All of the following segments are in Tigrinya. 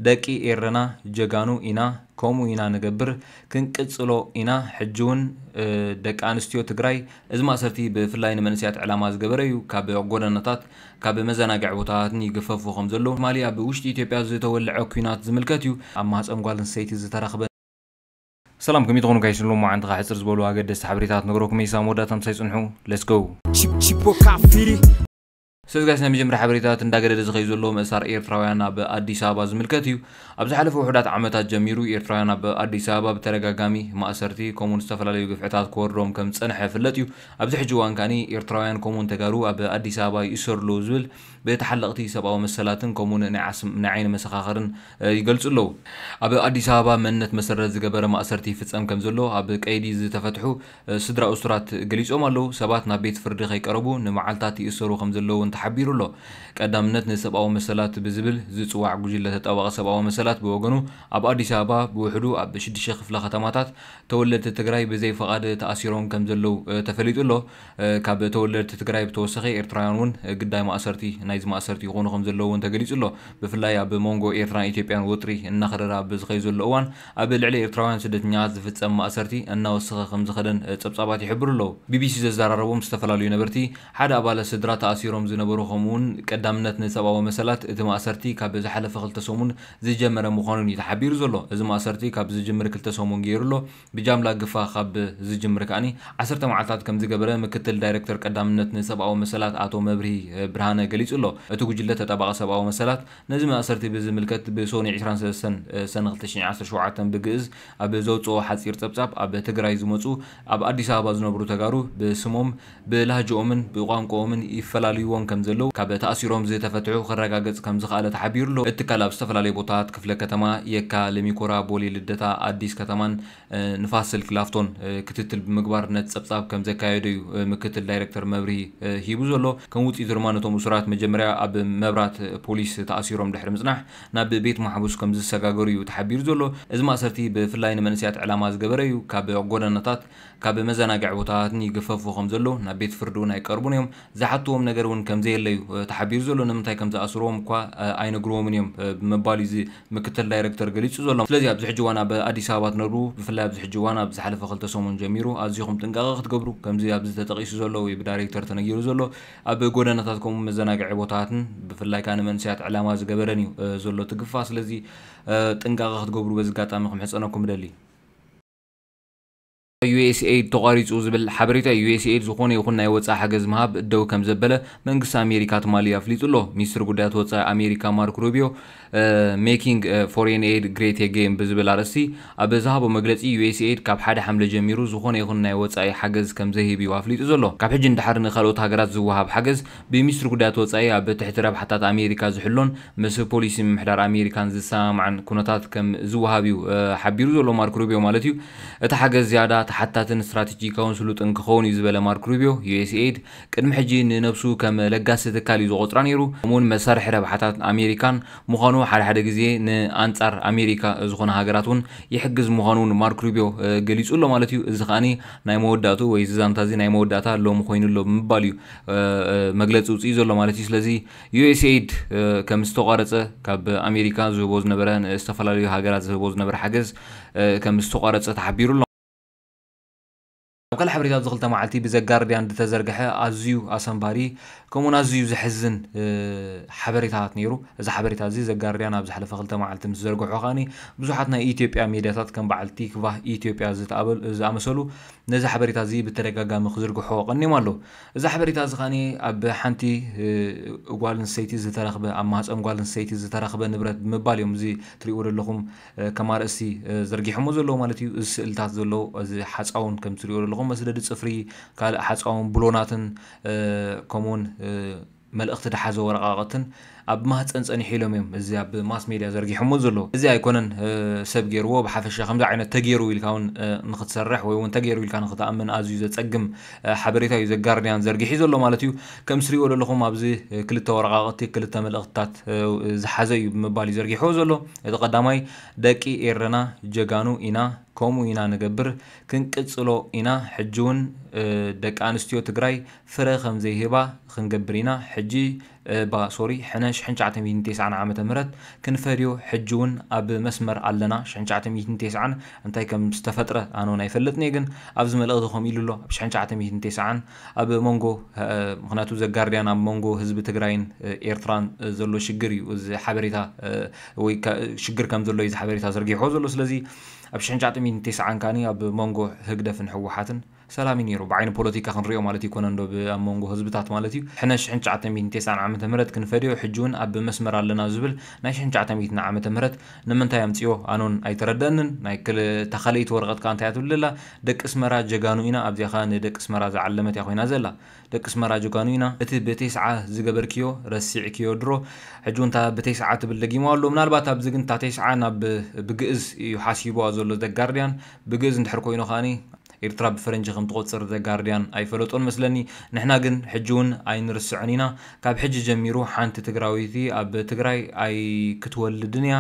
ደቂ ኤረና ጀጋኑ ኢና ከምኡ ኢና ንገብር ክንቅጽሎ ኢና ሕጂ ውን ደቂ ኣንስትዮ ትግራይ እዚ ማእሰርቲ ብፍላይ ንመንእሰያት ዕላማ ዝገበረ ዩ ካብ ጎደናታት ካብ መዘናግዒ ቦታታትን ይግፈፉ ከም ዘለዉ ትማሊ ኣብ ውሽጢ ኢትዮጵያ ዝተወልዐ ኩናት ዝምልከት ዩ ኣብ ማህጸን ጓል ኣንስተይቲ ዝተረኽበ ሰላም ከመይ ትኾኑ ጋይስ ንሎሚ መዓልቲ ከኣ ሕጽር ዝበሉ ኣገደስቲ ሓበሬታታት ክነግረኩም እየ ሳብ መወዳእታ ምሳይ ጽንሑ let's go። Chip Chip Wakafiri. ሰዚ ጋይስ ናይ መጀመርያ ሓበሬታታት እንዳገደደ ዝኸዩ ዘሎ ምእሳር ኤርትራውያን ኣብ ኣዲስ ኣበባ ዝምልከት እዩ። ኣብ ዝሓለፉ ውሑዳት ዓመታት ጀሚሩ ኤርትራውያን ኣብ ኣዲስ ኣበባ ብተደጋጋሚ ማእሰርቲ ከምኡውን ዝተፈላለዩ ግፍዕታት ክወርዶም ከም ዝጸንሐ ይፍለጥ እዩ። ኣብዚ ሕጂ እዋን ከኣኒ ኤርትራውያን ከምኡውን ተጋሩ ኣብ ኣዲስ ኣበባ ይእሰሩ ኣለዉ ዝብል ብተሓለቕቲ ሰብኣዊ መሰላትን ከምኡውን ናይ ዓስም ናይ ዓይኒ መሰኻኽርን ይገልጹ ኣለዉ። ኣብ ኣዲስ ኣበባ መንነት መሰረት ዝገበረ ማእሰርቲ ይፍጸም ከም ዘሎ ኣብ ቀይዲ ዝተፈትሑ ስድራ እሱራት ገሊጾም ኣለዉ። ሰባት ናብ ቤት ፍርዲ ከይቀረቡ ንመዓልታት ይእሰሩ ከም ዘለዉ እውን ተሓቢሩ ኣሎ። ቀዳምነት ንሰብኣዊ መሰላት ብዝብል ዝጽዋዕ ጉጅለ ተጣባቒ ሰብኣዊ መሰላት ብወገኑ ኣብ ኣዲስ ኣበባ ብውሕዱ ኣብ ሽዱሽተ ክፍለ ከተማታት ተወለድቲ ትግራይ ብዘይ ፈቓድ ተኣሲሮም ከም ዘለዉ ተፈሊጡ ኣሎ። ካብ ተወለድቲ ትግራይ ብተወሳኺ ኤርትራውያን እውን ግዳይ ማእሰርቲ ናይዚ ማእሰርቲ ይኾኑ ከም ዘለዉ እውን ተገሊጹ ኣሎ። ብፍላይ ኣብ መንጎ ኤርትራን ኢትዮጵያን ወጥሪ እናኸረረ ኣብ ዝኸይ ዘሎ እዋን ኣብ ልዕሊ ኤርትራውያን ስደተኛታት ዝፍጸም ማእሰርቲ እናወሰኸ ከምዝኸደን ጸብጻባት ይሕብሩ ኣለዉ። ቢቢሲ ዘዘራረቦም ዝተፈላለዩ ነበርቲ፣ ሓደ ኣባለ ስድራ ተኣሲሮም ዝነበሩ ከምኡ'ውን ቀዳምነት ንሰብኣዊ መሰላት፣ እቲ ማእሰርቲ ካብ ዝሓለፈ ክልተ ሰሙን ዝጀመረ ምዃኑን'ዩ ተሓቢሩ ዘሎ። እዚ ማእሰርቲ ካብ ዝጅምር ክልተ ሰሙን ገይሩ ኣሎ። ብጃምላ ግፋ ካብ ዝጅምር ከኣ ዓሰርተ መዓልታት ከምዝገበረ ምክትል ዳይረክተር ቀዳምነት ንሰብኣዊ መሰላት ኣቶ መብርሂ ብርሃነ ገሊጹ ኣሎ። እቲ ጉጅለ ተጣባቒ ሰብኣዊ መሰላት፣ ነዚ ማእሰርቲ ብዝምልከት ብሶኑይ ዕስራን ሰለስተን ሰነ ክልተ ሽሕን ዓሰርተ ሸውዓተን ብግእዝ ኣብ ዘውጽኦ ሓጺር ጸብጻብ ኣብ ትግራይ ዝመጹ ኣብ ኣዲስ ኣበባ ዝነብሩ ተጋሩ ብስሞም ብላህጅኦምን ብቋንቁኦምን ይፈላልይዎም ከምዘለዉ ካብ ተኣሲሮም ዝተፈትሑ ክረጋገጽ ከምዝኸኣለ ተሓቢሩ'ሎ። እቲ ትካል ኣብ ዝተፈላለዩ ቦታታት ክፍለ ከተማ የካ፣ ለሚኩራ፣ ቦሌ ልደታ፣ ኣዲስ ከተማን ንፋስ ስልክ ላፍቶን ክትትል ብምግባር ነቲ ጸብጻብ ከም ዘካየዶ እዩ ምክትል ዳይረክተር መብርሂ ሂቡ ዘሎ። ከም ውጽኢቱ ድማ ነቶም እሱራት መጀመርያ ኣብ መብራት ፖሊስ ተኣሲሮም ድሕሪ ምጽናሕ ናብ ቤት ማሕቡስ ከም ዝሰጋገሩ እዩ ተሓቢሩ ዘሎ። እዚ ማእሰርቲ ብፍላይ ንመንእሰያት ዕላማ ዝገበረ እዩ። ካብ ጎደናታት ካብ መዘናግዒ ቦታታትን ይግፈፉ ከም ዘለዉ ናብ ቤት ፍርዲ እውን ኣይቀርቡን እዮም። ዝሓትዎም ነገር እውን ከም ዘየለ እዩ ተሓቢሩ ዘሎ። ንምንታይ ከም ዝኣስርዎም እኳ ኣይነግርዎምን እዮም ብምባል እዩ እዚ ምክትል ዳይረክተር ገሊጹ ዘሎ። ስለዚ ኣብዚ ሕጂ እዋን ኣብ ኣዲስ ኣበባ ትነብሩ ብፍላይ ኣብዚ ሕጂ እዋን ኣብ ዝሓለፈ ክልተ ሰሙን ጀሚሩ ኣዚኹም ጥንቃቐ ክትገብሩ ከምዚ ኣብዚ ተጠቒሱ ዘሎ ወይ ብዳይሬክተር ተነጊሩ ዘሎ ኣብ ጎደናታት ከምኡ መዘናግዒ ቦታታትን ብፍላይ ከኣ ንመንእሰያት ዕላማ ዝገበረን እዩ ዘሎ እቲ ግፋ ስለዚ ጥንቃቐ ክትገብሩ በዚ ኣጋጣሚ ክምሕጸነኩም እደሊ። ዩኤስኤይድ ተቋሪፁ ዝብል ሓበሬታ እዩ። ዩኤስኤይድ ዝኾነ ይኹን ናይ ወፃኢ ሓገዝ ምሃብ ደው ከምዘበለ መንግስቲ ኣሜሪካ ትማሊ ኣፍሊጡ ኣሎ። ሚኒስትር ጉዳያት ወፃኢ ኣሜሪካ ማርክ ሩቢዮ ሜኪንግ ፎሬን ኤይድ ግሬት ኤጌይን ብዝብል ኣርእስቲ ኣብ ዝሃቦ መግለፂ ዩኤስኤይድ ካብ ሓደ ሓምለ ጀሚሩ ዝኾነ ይኹን ናይ ወፃኢ ሓገዝ ከምዘይህብ እዩ ኣፍሊጡ ዘሎ። ካብ ሕጂ ንደሓር ንካልኦት ሃገራት ዝወሃብ ሓገዝ ብሚኒስትር ጉዳያት ወፃኢ ኣብ ትሕቲ ረብሓታት ኣሜሪካ ዝሕሎን ምስ ፖሊሲ ምምሕዳር ኣሜሪካን ዝሰማማዕን ኩነታት ከም ዝወሃብ እዩ ሓቢሩ ዘሎ ማርክ ሩቢዮ ማለት እዩ። እቲ ሓገዝ ዝያዳ ተሓታትን ስትራተጂካውን ስሉጥን ክኸውን እዩ ዝበለ ማርክ ሩቢዮ፣ ዩኤስኤይድ ቅድሚ ሕጂ ንነብሱ ከም ለጋሲ ትካል እዩ ዝቖጽራ ነይሩ፣ ከምኡ'ውን መሳርሒ ረብሓታት ኣሜሪካን ምዃኑ ሓደ ሓደ ግዜ ንኣንጻር ኣሜሪካ ዝኾና ሃገራት እውን ይሕግዝ ምዃኑ እውን ማርክ ሩቢዮ ገሊጹ ኣሎ ማለት እዩ። እዚ ከኣ ናይ መወዳእትኡ ወይ እዚ ዛንታ እዚ ናይ መወዳእታ ሎሚ ኮይኑ ኣሎ ብምባል እዩ መግለጺ ኣውጺኡ ዘሎ ማለት እዩ። ስለዚ ዩኤስኤይድ ከም ዝተቋረፀ ካብ ኣሜሪካ ዝህቦ ዝነበረ ንዝተፈላለዩ ሃገራት ዝህቦ ዝነበረ ሓገዝ ከም ዝተቋረፀ ተሓቢሩ ኣሎ። ኣብ ካልእ ሓበሬታ ኣብዚ ክልተ መዓልቲ ብዘጋርድያን ዝተዘርገሐ ኣዝዩ ኣሰንባዲ ከምኡውን ኣዝዩ ዘሕዝን ሓበሬታታት ነይሩ። እዚ ሓበሬታ እዚ ዘጋርድያን ኣብ ዝሓለፈ ክልተ መዓልቲ ምስ ዘርገሖ ከኣኒ ብዙሓት ናይ ኢትዮጵያ ሜድያታት ከም በዓል ቲክቫህ ኢትዮጵያ ዝኣመሰሉ ነዚ ሓበሬታ እዚ ብተደጋጋሚ ክዝርግሖ ቀኒዮም ኣለዉ። እዚ ሓበሬታ እዚ ከኣ ኣብ ሓንቲ ጓል ኣንስተይቲ ዝተረኽበ ኣብ ማህጸን ጓል ኣንስተይቲ ዝተረኽበ ንብረት ብምባል እዮም እዚ ትሪእዎ ዘለኹም ከም ኣርእስቲ ዘርጊሖሞ ዘለዉ ማለት እዩ። እዚ ስእልታት ዘሎ እዚ ሓጻውን ከም ትሪእዎ ዘለኹም መስደዲ ጽፍሪ ካልእ ሓጻውን ብሎናትን ከምኡውን መልእኽቲ ድሓዘ ወረቓቕትን ኣብ ማህጸን ጸኒሑ ኢሎም እዮም እዚ ኣብ ማስ ሜድያ ዘርጊሖምዎ ዘለዉ። እዚ ኣይኮነን ሰብ ጌርዎ፣ ብሓፈሻ ከምዚ ዓይነት ተጌሩ ኢልካ ውን ንኽትሰርሕ ወይ ውን ተጌሩ ኢልካ ንኽትኣምን ኣዝዩ ዘጸግም ሓበሬታ እዩ ዘጋርድያን ዘርጊሒ ዘሎ ማለት እዩ። ከምስ ትሪእዎ ደለኹም ኣብዚ ክልተ ወረቓቕቲ ክልተ መልእኽትታት ዝሓዘ እዩ ብምባል እዩ ዘርጊሕዎ ዘሎ። እቲ ቀዳማይ ደቂ ኤረና ጀጋኑ ኢና ከምኡ ኢና ንገብር ክንቅጽሎ ኢና ሕጂ ውን ደቂ ኣንስትዮ ትግራይ ፍረ ከም ዘይህባ ኽንገብር ኢና ሕጂ እባ ሶሪ ሕነ ሽሕን ትሽዓተ ሚእትን ቴስዓን ዓመተ ምህረት ክንፈድዮ ሕጂ ውን ኣብ መስመር ኣለና ሽሕን ትሽዓተ ሚእትን ቴስዓን እንታይ ከም ዝተፈጥረ ኣነ ውን ኣይፈልጥን እየ ግን ኣብዚ መልእኽቲ ከምኡ ኢሉ ኣሎ ኣብ ሽሕን ትሽዓተ ሚእትን ቴስዓን ኣብ መንጎ ምኽንያቱ ዘጋርድያን ኣብ መንጎ ህዝቢ ትግራይን ኤርትራን ዘሎ ሽግር እዩ እዚ ሓበሬታ ወይ ሽግር ከም ዘሎ እዩ እዚ ሓበሬታ ዘርጊሕዎ ዘሎ ስለዚ ኣብ ሽሕን ትሽዓተ ሚእትን ቴስዓን ካኒ ኣብ መንጎ ህግደፍን ህወሓትን ሰላም እዩ ነይሩ ብዓይኒ ፖለቲካ ክንሪኦ ማለት እይኮነን ዶ ብ ኣብ መንጎ ህዝብታት ማለት እዩ ሕነ ሽሕን ትሽዓተ ሚእትን ቴስዓን ዓመተ ምህረት ክንፈድዮ ሕጂ ውን ኣብ መስመር ኣለና ዝብል ናይ ሽሕን ትሽዓተ ሚእትን ዓመተ ምህረት ንምንታይ ኣምጺኦ ኣነ ውን ኣይተረደኣንን ናይ ክል እታ ካልእይቲ ወረቀት ከኣ እንታይ እያ ትብል ዘላ ደቂ እስመራ ጀጋኑ ኢና ኣብዚኣ ከኣ ን ደቂ እስመራ ዝዓለመት እያ ኮይና ዘላ ደቂ እስመራ ጀጋኑ ኢና እቲ ብ ቴስዓ ዝገበርክዮ ረሲዕክዮ ድሮ ሕጂ ውን እታ ብ ቴስዓ ትብል ደጊምዋ ኣሎ ምናልባት ኣብዚ ግን እታ ቴስዓ ናብ ብ ግእዝ እዩ ሓሲብዋ ዘሎ ዘ ጋርድያን ብ ግእዝ እንድሕር ኮይኑ ከኣ ኢርትራ ብፈረንጂ ከም ትቆጽር The Guardian ኣይፈለጦን መስለኒ ንሕና ግን ሕጂ ውን ኣይንርስዖን ኢና ካብ ሕጂ ጀሚሩ ሓንቲ ትግራወይቲ ኣብ ትግራይ ኣይክትወልድን እያ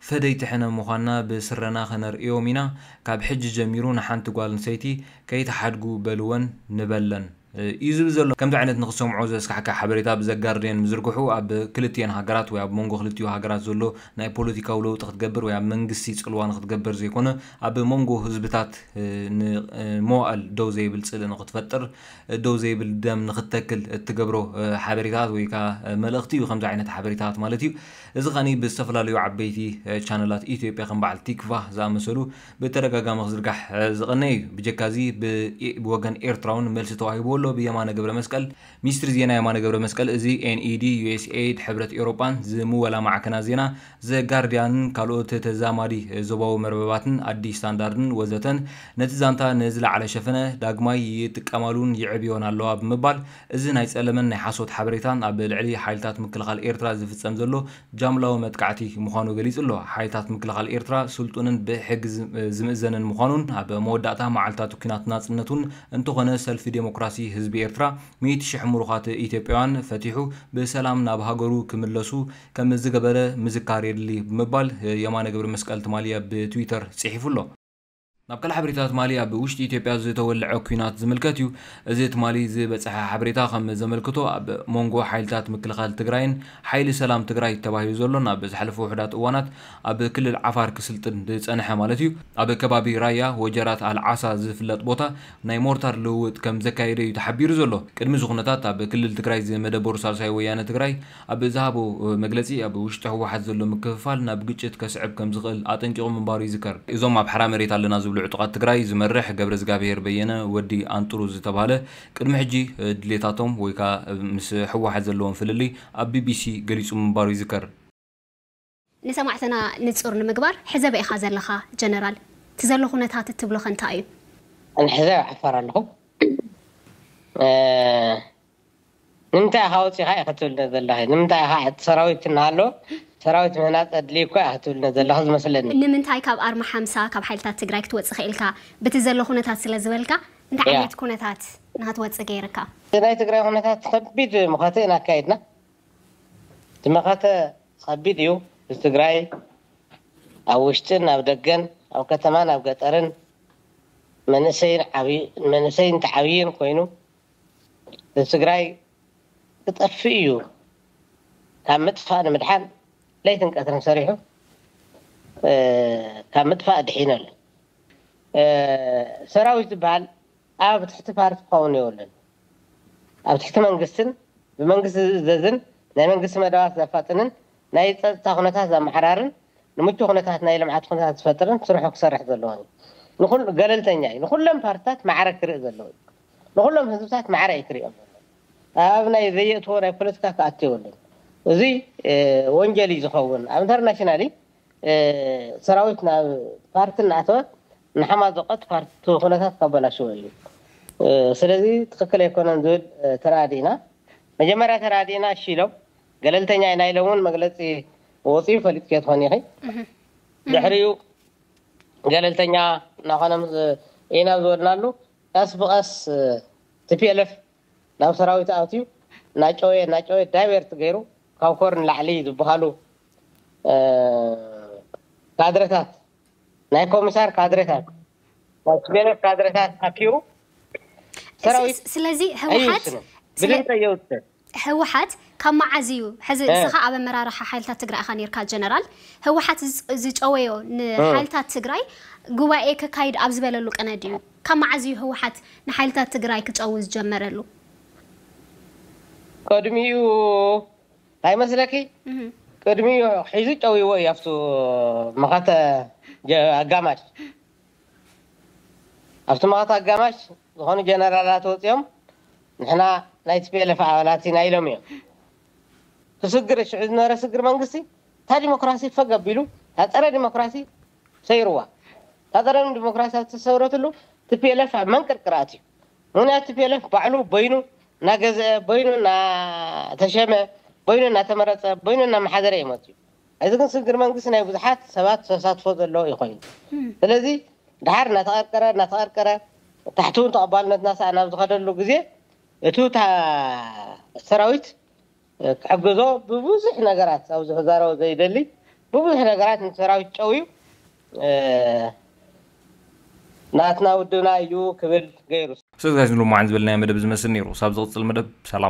ፈደይቲ ሕነ ምኳና ብስረና ከነርእዮም ኢና ካብ ሕጂ ጀሚሩ ንሓንቲ ጓልንሰይቲ ከይትሓድጉ በልወን ንበለን። እዩ ዝብል ዘሎ። ከምዚ ዓይነት ንኽትሰምዖ ዘስካሕክሕ ሓበሬታ ብ ዘጋርድየን ምዝርግሑ ኣብ ክልትኤን ሃገራት ወይ ኣብ ሞንጎ ክልቲኡ ሃገራት ዘሎ ናይ ፖለቲካዊ ለውጢ ክትገብር ወይ ኣብ መንግስቲ ጽልዋ ንኽትገበር ዘይኮነ ኣብ ሞንጎ ህዝብታት ን መዋእል ደው ዘይብል ጽልኢ ንኽትፈጥር ደው ዘይብል ደም ንኽትተክል እትገብሮ ሓበሬታታት ወይ ከኣ መልእኽቲ እዩ ከምዚ ዓይነት ሓበሬታታት ማለት እዩ እዚ ከኣ ብዝተፈላለዩ ዓበይቲ ቻነላት ኢትዮጵያ ከም በዓል ቲክቫህ ዝኣመሰሉ ብተደጋጋሚ ክዝርጋሕ ዝቐነየ እዩ። ብጀካዚ ብወገን ኤርትራውን መልሲ ተዋሂብዎ ኣሎ ብየማነ ገብረመስቀል። ሚኒስትሪ ዜና የማነ ገብረመስቀል እዚ NED፣ USAID፣ ሕብረት ኤውሮጳን ዝምወላ ማዕከናት ዜና ዘ ጋርድያንን ካልኦት ተዛማዲ ዞባዊ መርበባትን ኣዲስ ስታንዳርድን ወዘተን ነቲ ዛንታ ንዝለዓለ ሸፈነ ዳግማይ ይጥቀማሉን የዕብዮን ኣለዋ ብምባል እዚ ናይ ጸለመን ናይ ሓሶት ሓበሬታን ኣብ ልዕሊ ሓይልታት ምክልኻል ኤርትራ ዝፍጸም ዘሎ ጃምላዊ መጥቃዕቲ ምዃኑ ገሊጹ'ሎ። ሓይልታት ምክልኻል ኤርትራ ስልጡንን ብሕጊ ዝምእዘንን ምዃኑን ኣብ መወዳእታ መዓልታት ኲናት ናጽነቱን እንተኾነ ሰልፊ ደሞክራሲ ህዝቢ ኤርትራ ሚእቲ ሽሕ ምሩኻት ኢትዮጵያውያን ፈቲሑ ብሰላም ናብ ሃገሩ ክምለሱ ከምዝገበረ ምዝካር የድሊ ብምባል የማነ ገብረመስቀል ትማሊ ኣብ ትዊተር ጽሒፉ'ሎ። ናብ ካልእ ሓበሬታ ትማሊ ኣብ ውሽጢ ኢትዮጵያ ዝተወልዐ ኲናት ዝምልከት እዩ። እዚ ትማሊ ዝበፀሐ ሓበሬታ ከም ዘመልክቶ ኣብ ሞንጎ ሓይልታት ምክልኻል ትግራይን ሓይሊ ሰላም ትግራይ ተባሂሉ ዘሎን ኣብ ዝሓለፉ ውሑዳት እዋናት ኣብ ክልል ዓፋር ክስልጥን ዝፀንሐ ማለት እዩ ኣብ ከባቢ ራያ ወጀራት ኣል ዓሳ ዝፍለጥ ቦታ ናይ ሞርታር ልውውጥ ከም ዘካየደ እዩ ተሓቢሩ ዘሎ። ቅድሚ እዚ ኩነታት ኣብ ክልል ትግራይ ዝመደበሩ ሳልሳይ ወያነ ትግራይ ኣብ ዝሃቦ መግለጺ፣ ኣብ ውሽጢ ህወሓት ዘሎ ምክፍፋል ናብ ግጭት ከስዕብ ከምዝኽእል ኣጠንቂቑ ምንባሩ ይዝከር። እዞም ኣብ ሓራ መሬት ኣለና ዝብሉ ዕጡቓት ትግራይ ዝመርሕ ገብረዝጋብሄር በየነ፣ ወዲ ኣንጥሩ ዝተብሃለ፣ ቅድሚ ሕጂ ድሌታቶም ወይ ከኣ ምስ ህወሓት ዘለዎም ፍልልይ ኣብ ቢቢሲ ገሊጹ ምንባሩ ይዝከር። ንሰማዕትና ንጹር ንምግባር ሕዘበ ኢኻ ዘለኻ ጀነራል ትዘሎ ኩነታት እትብሎኸ እንታይ እዩ? ኣነ ሕዚ ኣብ ዓፋር ኣለኹ። ንምንታይ ኢኻ ወጺኻ ኢኺ ትብልኒ ዘለኺ? ንምንታይ ኢኻ እቲ ሰራዊት እናሃለወ ሰራዊት ምህናጽ ኣድልዪ እኳ ኢኺ ትብልኒ ዘለኺ ዝመስለኒ። ንምንታይ ካብ ኣርማ ሓምሳ ካብ ሓይልታት ትግራይ ክትወጽእ ክኢልካ? ብቲ ዘሎ ኩነታት ስለ ዝበልካ እንታይ ዓይነት ኩነታት ንክትወጽእ ገይርካ? እቲ ናይ ትግራይ ኩነታት ከቢድ መኸተ ኢና ኣካይድና። እቲ መኸተ ኸቢድ እዩ ህዝቢ ትግራይ ኣብ ውሽጥን ኣብ ደገን ኣብ ከተማን ኣብ ገጠርን መንእሰይን ተዓብይን ኮይኑ ህዝቢ ትግራይ ክጠፍእ እዩ ካብ ምጥፋእ ንምድሓን ለይትን ቀትርን ሰሪሑ ካብ ምጥፋእ ኣድሒኑ ኣሎ ሰራዊት ዝብሃል ኣብ ትሕቲ ፓርቲ ክኸውን የብሉን። ኣብ ትሕቲ መንግስትን ብመንግስቲ ዝእዘዝን ናይ መንግስቲ መደባት ዘፋጥንን ናይ ፀፅታ ኩነታት ዘመዓራርን ንምቹው ኩነታት ናይ ልምዓት ኩነታት ዝፈጥርን ስርሑ ክሰርሕ ዘለዎን እዩ። ንኹሉ ገለልተኛ እዩ። ንኹሎም ፓርትታት ማዕረ ክርኢ ዘለዎ እዩ። ንኹሎም ህዝብታት ማዕረ እዩ ክርእዮም ዘለዎ። ኣብ ናይ ዘየእትዎ ናይ ፖለቲካ ክኣቱ የብሉን። እዙይ ወንጀል እዩ ዝኸውን። ኣብ ኢንተርናሽናሊ ሰራዊት ናብ ፓርቲ እናኣተወ ንሓማዝቆት ፓርቲ እቲ ኩነታት ከበላሽዎ እዩ ስለዚ ትክክል ኣይኮነን ዝብል ተረኣዲእና መጀመርያ ተረኣዲእና እሺ ኢሎም ገለልተኛ ኢና ኢሎም ውን መግለፂ ወፅዩ ፈሊጥክዮ ትኮኒ ኢኪ ድሕሪኡ ገለልተኛ ናኮነ ኢና ዝበልናሉ ቀስ ብቀስ tplf ናብ ሰራዊት ኣትዩ ናጨወየ ናጨወየ ዳይቨርት ገይሩ ካብ ኮር ንላዕሊ ዝብሃሉ ካድረታት ናይ ኮምሳር ካድረታት ናይ ቲፔለፍ ካድረታት ኣኪቡ ሰራዊት ስለዚ ህወሓት ብልምፀ የውፅእ። ህወሓት ካብ መዓዝ እዩ ሕዚ ንስኻ ኣብ ኣመራርሓ ሓይልታት ትግራይ ኢኻ ኔርካ ጀነራል ህወሓት ዝጨወዮ ንሓይልታት ትግራይ ጉባኤ ከካይድ ኣብ ዝበለሉ ቅነ ድዩ ካብ መዓዝ እዩ ህወሓት ንሓይልታት ትግራይ ክጨዊ ዝጀመረሉ? ቅድሚኡ ታይ መስለኪ ቅድሚኡ ሒዙ ጨውይዎ እዩ ኣብቱ መኸተ ኣጋማሽ ኣብቲ መኸተ ኣጋማሽ ዝኾኑ ጀነራላት ወፅዮም ንሕና ናይ tplf ኣባላት ኢና ኢሎም እዮም ክስግር ሽዑ ዝነበረ ስግር መንግስቲ እታ ዲሞክራሲ ፈግ ኣቢሉ እታ ፀረ ዲሞክራሲ ሰይርዋ እታ ፀረ ዲሞክራሲ ኣብ ዝተሰውረትሉ tplf ኣብ መንቅርቅር ኣትዩ ምክንያቱ ቲፔለፍ ባዕሉ በይኑ ናገዘኤ በይኑ ናተሸመ በይኑ ናተመረፀ በይኑ ናመሓደረ እዩ መፅዩ ሐዚ ግን ስግግር መንግስቲ ናይ ብዙሓት ሰባት ተሳትፎ ዘለዎ እዩ ኮይኑ ስለዚ ዳሓር ናተቀርቀረ ናተቀርቀረ ታሕቲ እውን ተቀባልነት ናሰኣነ ኣብዝከደሉ ግዜ እቱ ሰራዊት ክሕግዞ ብብዙሕ ነገራት ኣብዚ ክዛረቦ ዘይደሊ ብብዙሕ ነገራት ን ሰራዊት ጨውዩ ናትና ውድብና እዩ ክብል ገይሩ። ሰግዛጅ ንሎማዕን ዝበልናዮ መደብ እዚ መስል ነይሩ ሳብ ዝቅጽል መደብ ሰላም።